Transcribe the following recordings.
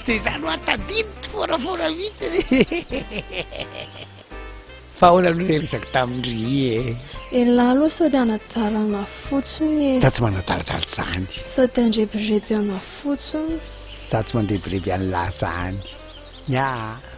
Dia izany hoa tadidiko foanafoana mihitsiny. Fa ahoana aloha ilay resaka tamin-dry e? Elah aloha sao dia anadalana fotsiny e. Za tsy manadaladala izany. Sao dia andrebireby ana fotsiny. Za tsy mandrebireby an'lah izany. Ny ahy.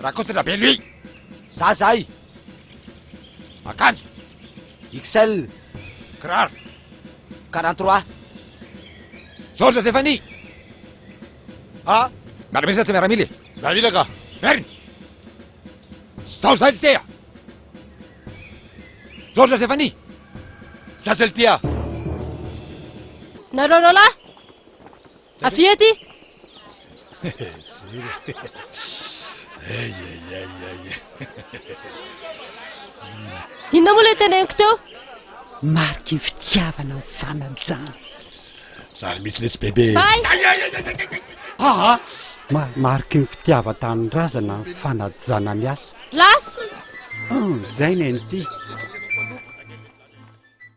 Rakotondrabelo ii, za zay, akanjo XL, kiraro quarante trois, Georges Zefania, a miaramila sa tsy miaramila e? Miaramila ka. Merina. Zao zay tsy tea. Georges Zefania, za zay tia. Nareo roalahy! Avia aty! Inona moa ilay teneniko teo? Mariky ny fitiavana ny fanajana. Zary mihitsy letsy bebe. Bay! Aa! Mariky ny fitiavan-tanindrazana ny fanajana miasa. Lasa! Hum, izay ny an'ity.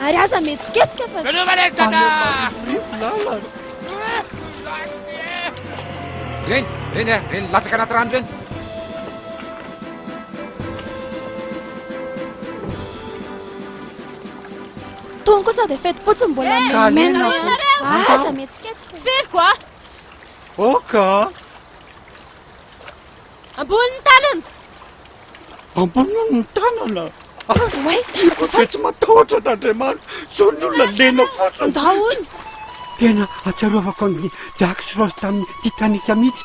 Ary aza mihetsiketsika fa tsy Reny, reny, reny, latsaka anaty rano reny. Tony kosa dia feti-potsy mbola mena. Aza mihetsiketsika. Feriko ah. Oka. Ambony ny tanana! Ambony ny tanana! Ah, tiako ve tsy matahotra an'Andriamanitra? Zao ny olona lena fotsiny! Daholo! Tena atsiarovako an'i Jack sy Rose tamin'ny Titanic mihitsy.